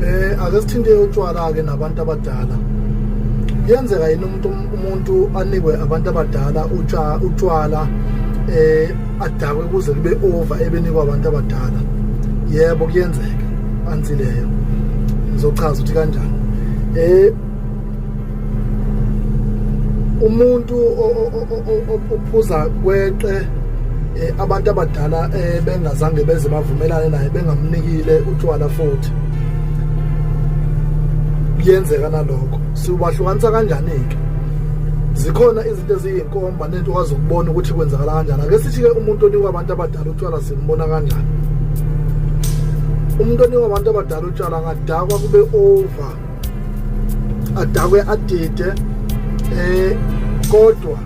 Eh ake sithinte utshwala ke nabantu abadala. Yenzeka yini umuntu umuntu anikwe abantu abadala utsha utshwala eh adakwe kuze kube over ebenikwa abantu abadala. Yebo kuyenzeka anzileyo. Ngizochaza ukuthi kanjani. Eh umuntu ophuza kweqe eh, abantu abadala eh, bengazange beze bavumelane naye bengamnikile utshwala futhi kuyenzeka nalokho siwahlukanisa kanjani-ke zikhona izinto eziyinkomba nento okwazi ukubona ukuthi kwenzakala kanjani ake sithi-ke umuntu onikwa abantu abadala utshwala simbona kanjani umuntu onikwa abantu abadala utshwala ngadakwa kube over adakwe adide eh kodwa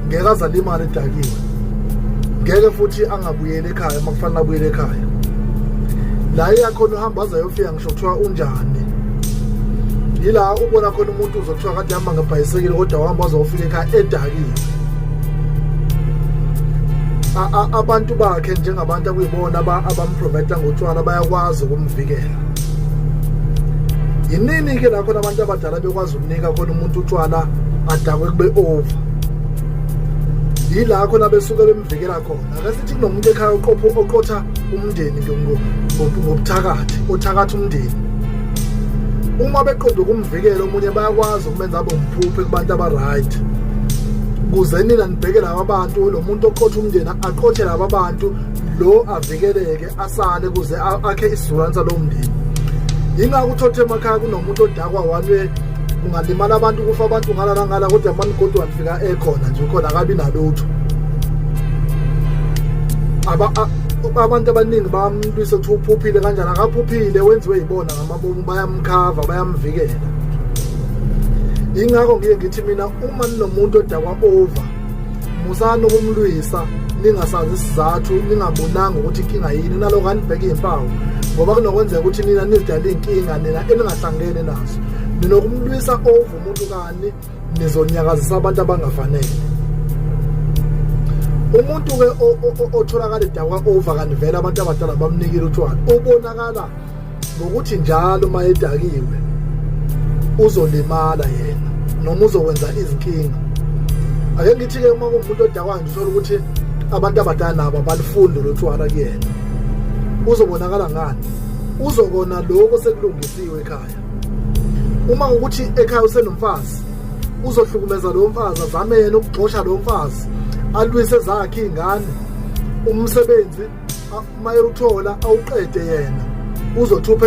ngeke azalimala edakiwe ngeke futhi angabuyeli ekhaya uma kufanele abuyele ekhaya la iyakhona uhamba aze ayofika ngisho kuthiwa unjani yila ubona khona umuntu uzokuthiwa kade hamba ngebhayisekile kodwa wahamba wazofika ekhaya edakiwe abantu bakhe njengabantu akuyibona abamprovida ngotshwala bayakwazi ukumvikela yinini ke la khona abantu abadala bekwazi ukunika khona umuntu utshwala adakwe kube over yila khona besuke bemvikela khona ake sithi kunomuntu ekhaya oqopho oqotha umndeni ngobuthakathi othakatha umndeni uma beqonda ukumvikela omunye bayakwazi ukumenza abe umphuphe kubantu abaright kuze nina nibheke laba bantu lo muntu oqotha umndeni aqothe laba bantu lo avikeleke asale kuze akhe isizulanisa lo mndeni yingako uthothe emakhaya kunomuntu odakwa walwe kungalimala abantu kufa abantu ngala nangala kodwa mani kodwa nifika ekhona nje ukhona akabi nalutho abantu abaningi bamlwise ukuthi uphuphile kanjani akaphuphile wenziwe yibona ngamabomu bayamkhava bayamvikela ingakho ngiye ngithi mina uma ninomuntu odakwa over musani ukumlwisa ningasazi isizathu ningabonanga ukuthi inkinga yini naloko anibheke iy'mpawu ngoba kunokwenzeka ukuthi nina nizidala iy'nkinga nina eningahlangene nazo nina ukumlwisa over umuntu kani nizonyakazisa abantu abangafanele umuntu-ke otholakala edakwa over kanti vele abantu abadala bamnikile utshwala ubonakala ngokuthi njalo uma edakiwe uzolimala yena noma uzokwenza izinkinga ake ngithi-ke uma kuwumuntu odakwa nje uthole ukuthi abantu abadala nabo abalifuni lolu thwala kuyena uzobonakala ngani uzokona lokho sekulungisiwe ekhaya uma ukuthi ekhaya usenomfazi uzohlukumeza lowo mfazi azame yena ukugxosha lowo mfazi alwise zakhe iy'ngane umsebenzi mayewuthola awuqede yena uzothupha